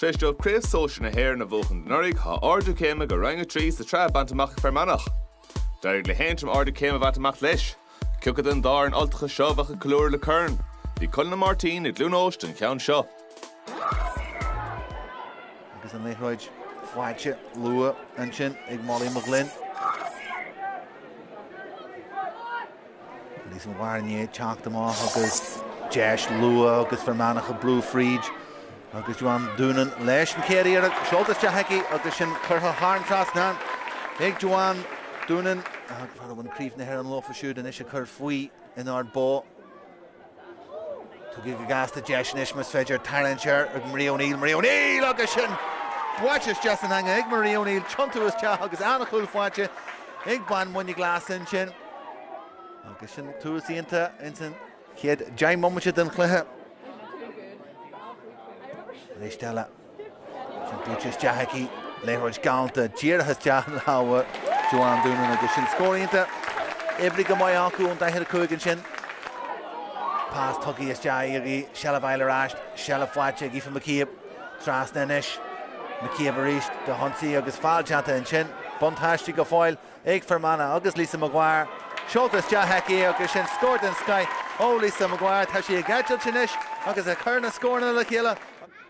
Tar éis dóibh Craobh Sóisear na hÉireann a bhuachan anuraidh, tá ardú céime go Roinn 3 sa tsraith bainte amach ag Fear Manach. D'éirigh le hAontroim ardú céime a bhaint amach leis. Cé acu den dá fhoireann Ultacha seo a bheadh ag ceiliúradh le corn? Bhí Conall Ó Máirtín i gCluain Eois don cheann seo. Agus an liathróid faighte luath ansin ag Molly McGloin. Lios an Bhairnigh ag teacht amach agus deis luath agus Fear Manach ag brú fríd agus Joanne Doonan leis an chéad iarracht. Seolta isteach aici agus sin curtha thar an trasnán ag Joanne Doonan. a bhain Craobh na hÉireann leofa siúd anois ag cur faoi in Ard Bó. Tugtha go gasta deis anois más féidir tarraingt siar ag Marie O'Neill, Marie O'Neill agus sin báite isteach san eanga ag Marie O'Neill, tiontú isteach agus an-chúl faighte ag bean Mhuine Glas ansin agus sin tús iontach ins an chéad deich mbomaite den chluiche. Arís eile. Buailte isteach aici, liathróid galánta dírithe isteach in lámha Joanne Doonan agus sin scór iontach. Oibrithe go maith acu ón daichead a cúig ansin. Pas tugtha isteach aici, seilbh fháil ar ais, seilbh faighte ag Aoife McCabe. Trasna anois. McCabe arís, Dahunsi agus feall déanta ansin. Buntáiste go fóill ag Fear Manach agus Lisa Maguire. Seolta isteach aici agus sin scór den scoith ó Lisa Maguire. Tá sí ag eitilt anois agus ag cur na scóranna le chéile.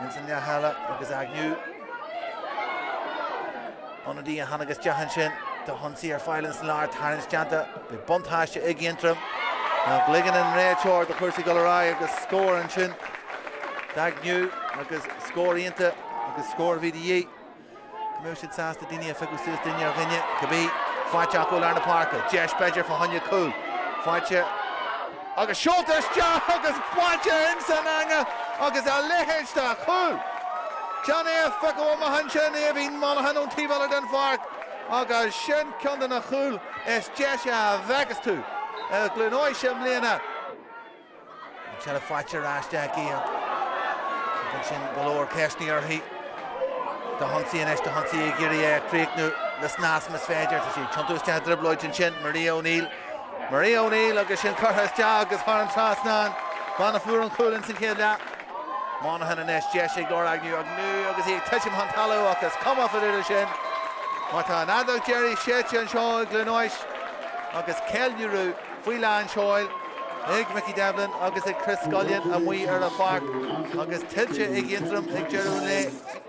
Ins an leath eile agus Agnew, ionadaí a tháinig isteach ansin Dahunsi ar fáil ins an lár, tarraingt déanta, beidh buntáiste ag Aontroim ach ligeann an réiteoir do chúrsaí dul ar aghaidh agus scór ansin d'Agnew agus scór iontach agus scór a bhí de dhíth. go mbeidh siad sásta daoine a phiocadh suas duine ar dhuine, cibé faighte acu i lár na páirce. Deis b'fhéidir fá choinne cúl. Faighte agus seolta isteach agus faighte ins an eanga agus a leithéid de chúl! Déan é a phiocadh amach ansin Aoibhín Monaghan ón taobh eile den pháirc agus sin ceann de na cúil is deise a bhfeicfeas tú i gCluain Eois i mbliana. An tseilbh faighte ar ais aici ansin go leor ceisteanna uirthi. Dahunsi anois, Dahunsi ag iarraidh é a chríochnú le snas más féidir. Tá sí ag tiontú isteach i dtrioblóid ansin, Marie O'Neill. Marie O'Neill agus sin curtha isteach agus thar an trasnán. Bean a fuair an cúl ins an chéad leath. Monaghan anois, deis ag Laura Agnew, Agnew agus í ag titim chun talamh ach is cuma fá dtaobh de sin mar tá an fheadóg deiridh séidte anseo i gCluain Eois agus ceiliúradh faoi lán seoil ag Mickey Devlin agus ag Chris Scullion amuigh ar an pháirc agus tuillte ag Aontroim ag deireadh an lae.